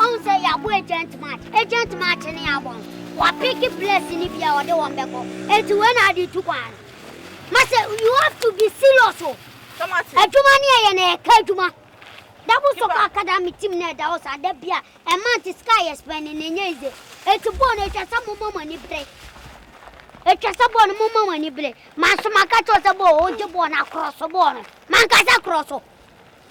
Ɔhu sɛ yɛabɔ agent match. Agent match ne yɛabɔ no, wɔapeke players no bi a ɔde wɔn bɛkɔ. Enti wei na ade tu kwan no. Masɛ you have to be serious o. Adwuma ne yɛyɛ no yɛka adwuma. Double Soccer Academy team no ɛda hɔ saa da bi a ɛmant sika a yɛ spend no ɛnyɛ easy. Enti bɔɔl no ɛtwa sɛ momma mo ani bere. Ɛtwa sɛ bɔɔl no momma mo ani bere. Manso maka kyerɛ wo sɛ bɔɔl ogye bɔɔl no akrɔso bɔɔl no. Mankasa krɔso.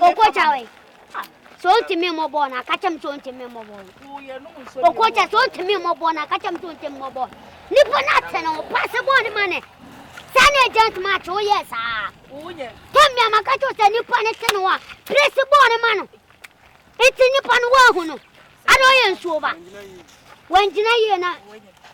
Okocha wei. Sɛ ɔntumi mmɔ bɔɔl no aka kyɛm sɛ ɔntumi mmɔ bɔɔl no. Okocha sɛ ɔntumi mmɔ bɔɔl no aka kyɛm sɛ ɔntumi mmɔ bɔɔl. Nipa no ate no ho paase bɔɔl no ma ne. Saa na agent match woyɛ saa. Tɛm bi a maka kyɛw sɛ nipa no te no a presi bɔɔl no ma no. Nti nipa no wɔahu no. Ana ɔyɛ nsuo ba. Wɔngyina yie na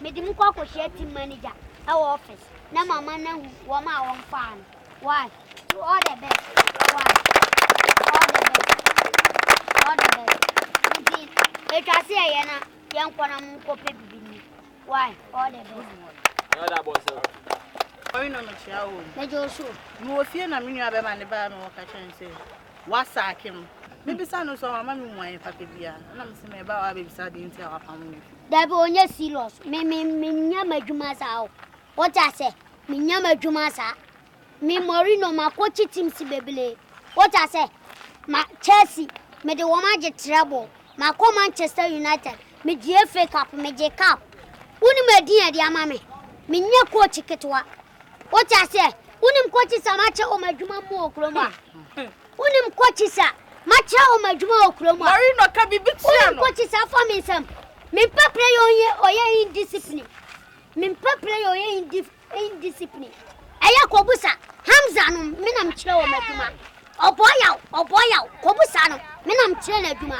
Mede mo kɔ akɔhyia team manager ɛwɔ office na ma ma na hu wɔn a wɔn faa no. Why? So all the best. Why? All the best. All the best. Nti, etwa se ɛyɛ na yɛn kɔ na mo nkɔ pɛ bibi ni. Why? All the best. Ɛyɛ da bɔ sɛ. Ɔyɛ na mo kyia o. Mɛjɔ so. Mo wɔ fie na me nua bɛma ne baa me wɔ kakyɛ nsɛ. Wasaake no. Mebisa no so a wama me mmuae fata biara. Ɛna mese meba a wabebisa ade nti a wapam me afi. Dabi ɔnyɛ serious. Me me menyɛ m'adwuma saa o. Wote ase? Menyɛ m'adwuma saa. Me Mourinho makɔkye teams bebree. Wote ase? Ma Chelsea mede wɔn agye treble. Makɔ Manchester United, megyee FA Cup, megyee Cup. Wonim edin a ɛde ama me? Menyɛ coach ketewa. Wote aseɛ? Wonim coaches a makyɛ wɔn adwuma mu wɔ kurom a? Wonim coaches a makyerɛ wɔn adwuma wɔ kurom a? Marino ka biribi kyerɛ no. Wonim coaches a afa me nsam? Mempɛ player ɔyɛ indiscipline. Mempɛ player ɔyɛ indiscipline. Indiscipline ɛyɛ kɔbusa Hamza nom me na mekyerɛ wɔn adwuma Ɔbɔ yaw ɔbɔ yaw kɔbusa no me na mekyerɛ no adwuma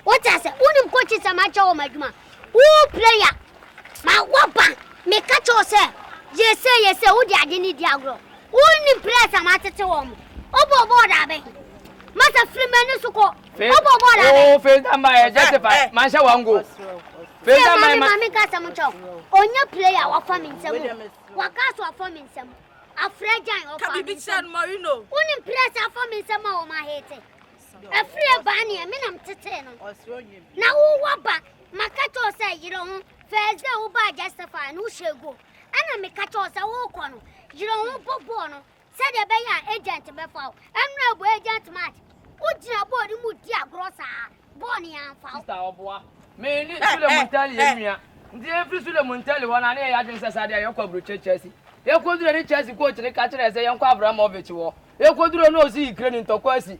Wote ase wonim coaches a makyɛ wɔn adwuma Wo player ma waba meka kyɛ wo sɛ yɛ sɛ yɛ sɛ wode ade ne di agorɔ Wonim players a matete wɔn Wobɔ bɔɔl da bɛn Masa firi m'ani so kɔ Oh, Fenta Mbaye, justify. Eh, eh. Manhyɛ wango. Fenta Mbaye ma. Mami kasa mo kyɛw. Onye player wafa mi nsam. Waka so afa mi nsam. Afra Jan wafa mi nsam. Woni press afa mi nsam a wo ma hete. Afri e ba ne me nam tete no. Na wo wa ba maka kyɛw sɛ yere ho. Thursday wo ba justify no hyɛ go. Ana me ka kyɛw sɛ wo kɔ no. Yere ho bɔ bɔɔ no. Sɛdeɛ ɛbɛyɛ a agent bɛfa wo. Ɛmmerɛ ɛbɔ agent match. Wo gyina bɔɔl no mu di agorɔ saa. Bɔɔl no anfa wo. Sister ɔboa. Me ne Sule Muntali yɛ nua. Nti yɛn firi Sule Muntali hɔ no a ne yɛyɛ adwene sɛ saa deɛ yɛkɔ aburokyire Chelsea. Yɛkɔ duree ne Chelsea coach no ka kyerɛɛ yɛ sɛ yɛnkɔ Abramovich hɔ. Yɛkɔ duree no ɔsi Ukraine ntɔkwa asi.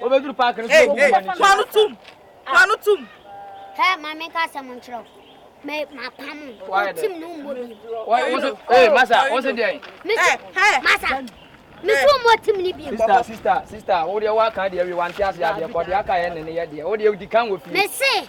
Wobɛduru paake no so na wobu w'ani so. Fa no tom! Fa no tom! Hɛ, ma menka asɛm nkyerɛ wo. Me mapam wo. Wotim no mmɔ bi. Ee, masa, wo se deɛn? Mese, masa, mese wo mmɔ tim no bi. Sista, sista, sista, wo deɛ woaka deɛ wie wante ase adeɛ kɔ deɛ aka yɛ ne ne yɛ deɛ. Wo deɛ wodi kan wɔ fie. Mese.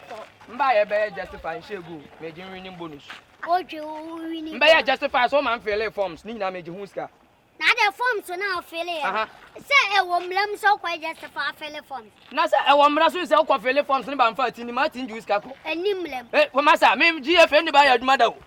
Mba yɛ bɛyɛ justify nhyɛ egu o megye winning bonus. Wodwe wo winning. Mbɛyɛ justify so ma mfeelee forms ne nyinaa megye ho sika. Na de forms so na ofeele yɛ. Aha. Sɛ ɛwɔ mmara mu sɛ wokɔyɛ justify afeele forms. Na sɛ ɛwɔ mmara so sɛ wokɔ feele forms ne ba mfa ati ni ma ati ngye wo sika kɔ. Ɛni mmara mu. E, wɔ ma sa, me GFA ni ba yɛ adwuma da o.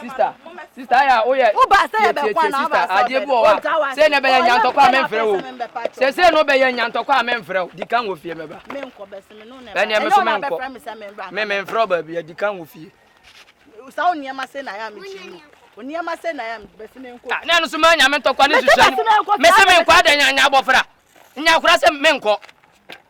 sista sista ayɛ a woyɛ tietietie sista adeɛ bi wɔ hɔ a sɛ na ɛbɛyɛ nyantɔkɔ a memfrɛ wo sɛ sɛ na wobɛyɛ nyantɔkɔ a memfrɛ wo di kan wɔ fie mɛba ɛneɛ me so menkɔ me memfrɛ wo baabi adi kan wɔ fie saa onneɛma sɛ na yɛ a mekyi mu onneɛma sɛ na yɛ a bɛsi me nkɔ na ɛno so ma nyame ntɔkwa ne suhyɛ no mese menkɔ adɛ nya abɔfra nya kora sɛ menkɔ